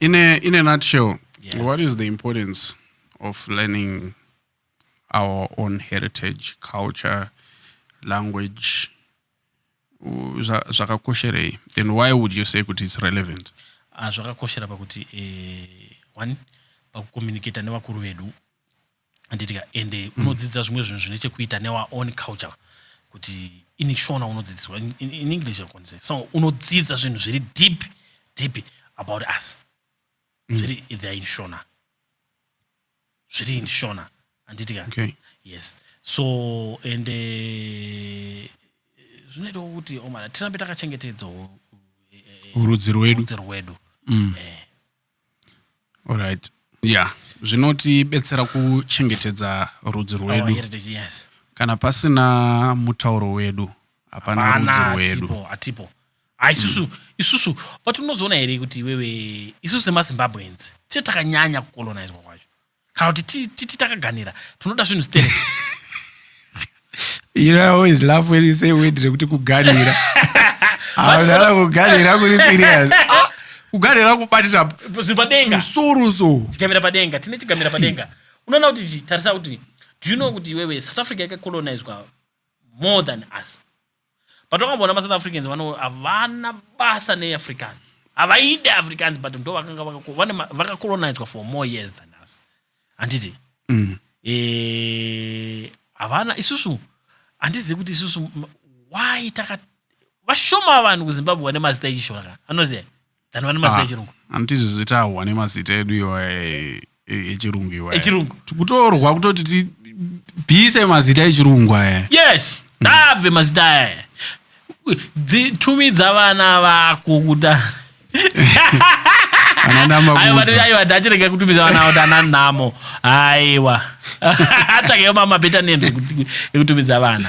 in a, in a nutshell yes. what is the importance of learning our own heritage culture language zvakakosherei and why would you say kuti it's relevant ah, zvakakoshera pakuti eh, one pakucommunicata nevakuru vedu handiti ka ende mm. unodzidza zvimwe zvinhu zvine chekuita newa own culture kuti ini shona unodzidziswa in, in, in english akonise so unodzidza zvinhu zviri deep deep about us mm. zviri theyare in shona zviri in shona handiti ka okay. yes so and eh, zvinoita uh, kuti omana oh tirambe takachengetedzawo eh, eh, urudzi rwedu rwedu mm. eh. Alright. Yeah. Zvinotibetsera kuchengetedza rudzi Our rwedu. heritage, yes. Kana pasina mutauro wedu, hapana Hapana, rudzi rwedu. hatipo, hatipo Ah, isusu isusu but unozoona here kuti iwewe isusu semazimbabweans tee takanyanya kukolonizwa kwacho kana kuti ti- titi takaganira tinoda zvinhu sterek you know i always laugh when you say wedding rekuti kuganira haunara kuganira kuri serious Ah, kuganira kubatisa zvinhu padenga musoro so tigamira padenga tine tigamira padenga unoona kuti zvi- tarisa kuti do you know kuti iwewe south africa yakacolonizwa more than us but wakamboona masouth africans vano havana basa neafricans havaide africans but ndo vakanga vakacolonizwa for more years than us handiti mm. eh, havana e, isusu handizivi kuti isusu why taka vashoma vanhu kuzimbabwe vane mazita echishona ka anoziva than vane mazita ah, echirungu hanti izvi zvitahwa nemazita edu iwa echirungu iwa echirungu kutorwa kutoti tibvise mazita echirungu aya yes ndabve mm. mazita aya tumidza vana vako kuta aiwa ndachirega kutumidza vana kuti ana nhamo aiwa atsvakeyo mamabeta names ekutumidza vana